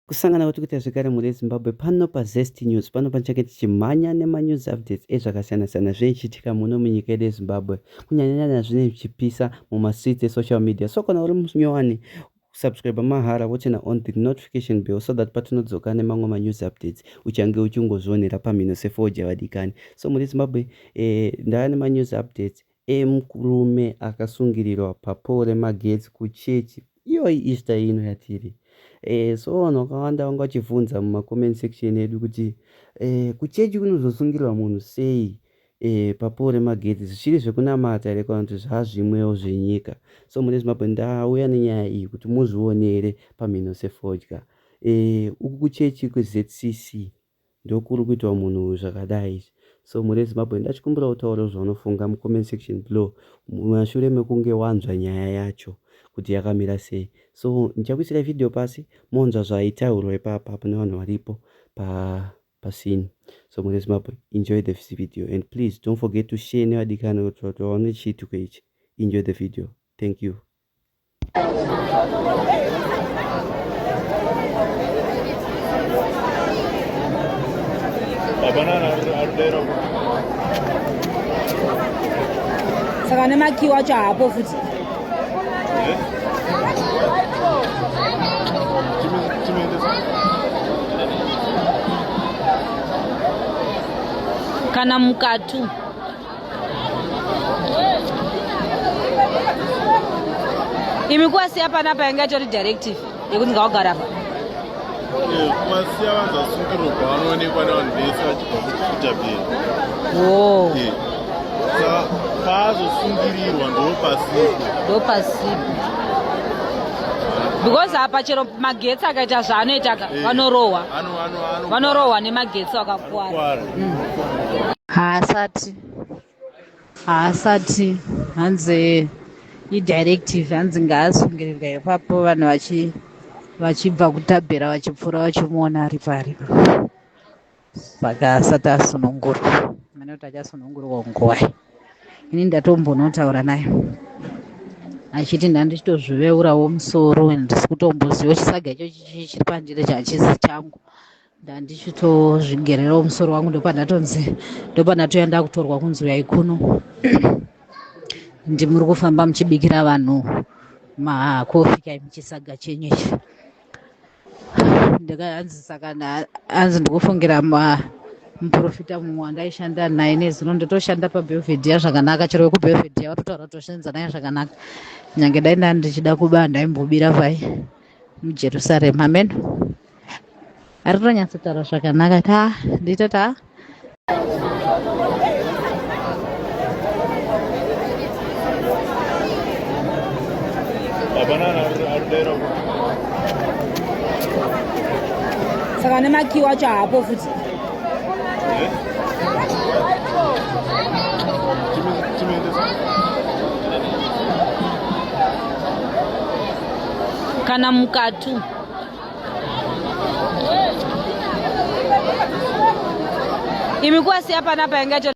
Kusangana kwatiri kuita zvekare mhuri yezimbabwe pano pazest news pano panichange tichimhanya nemanews updates ezvakasiyana-siyana zveichiitika muno munyika yedu yezimbabwe kunyanyanyanya zvine zvichipisa mumastreets esocial media so kana uri munyowani subscribe mahara wochena on the notification bell so that patinodzoka nemamwe manews updates uchange uchingozvionera pamhino sefodya vadikani so mhuri yezimbabwe eh, ndava nemanews updates emkrume akasungirirwa papole remagetsi kuchechi iyoyi easter ino yatiri eh, so vanhu vakawanda vanga vachivhunza mumacomment section edu kuti eh, kuchechi kunozosungirirwa munhu sei eh, papole remagetsi zvichiri zvekunamata here kana kuti zvazvimwewo zvenyika so mune zimbabwe ndauya nenyaya iyi kuti muzvionere pamhino sefodya eh, uku kuchechi kwezcc ndokuri kuitwa munhu uyu zvakadai izvi so mhuri yezimbabwe ndachikumbira utaure zvaunofunga mucomment section below mashure mekunge wanzwa nyaya yacho kuti yakamira sei so ndichakuisira video pasi monzwa zvaitaurwa ipapa pane vanhu varipo pa pasini so mhuri yezimbabwe enjoy the video and please don't forget to share nevadikani kuti vaone chiitiko ichi enjoy the video thank you saka nemakii wacho haapo futi kana mukatu imi kuwasiya panapa yanga itori directive yekuti ngawagara apa kuwasiya vanza sungiro kwaanoonekwa nevanhu vese vachibva kukuita bheni oh. saka paazosungirirwa ndopasipo ndopasipo because apa chero magetsi akaita zvaanoitaka eh. vanorohwa vanorohwa nemagetsi vakakuwara mm. haasati haasati hanzi idirective hanzi ngaasungirirwa ipapo vanhu vachi vachibva kutabhera vachipfuura vachimuona ari pari saka asati asunungurwa mane kuti achasunungurwa nguvai ini ndatombonotaura naye achiti ndandichitozviveurawo musoro and ndisi kutomboziva chisaga ichochi chiri pandiri chachizi changu ndandichitozvigererawo musoro wangu ndopandatozi ndopandatoya ndakutorwa kunzi uyai kuno ndimuri kufamba muchibikira vanhu makofi kai muchisaga chenyu ichi ndikahanzi saka hanzi ndikufungira muprofita mumwe wandaishanda naye nezino ndotoshanda pabelvedia zvakanaka chero wekubelvedia watotaura toshanza naye zvakanaka nyange dai ndandichida kuba ndaimbobira vai mujerusarema ameno ari kutonyatsotaura zvakanaka ta ndito ta saka nemakiwo acho haapo futi kana mukatu imikuwa siya panapa yangacho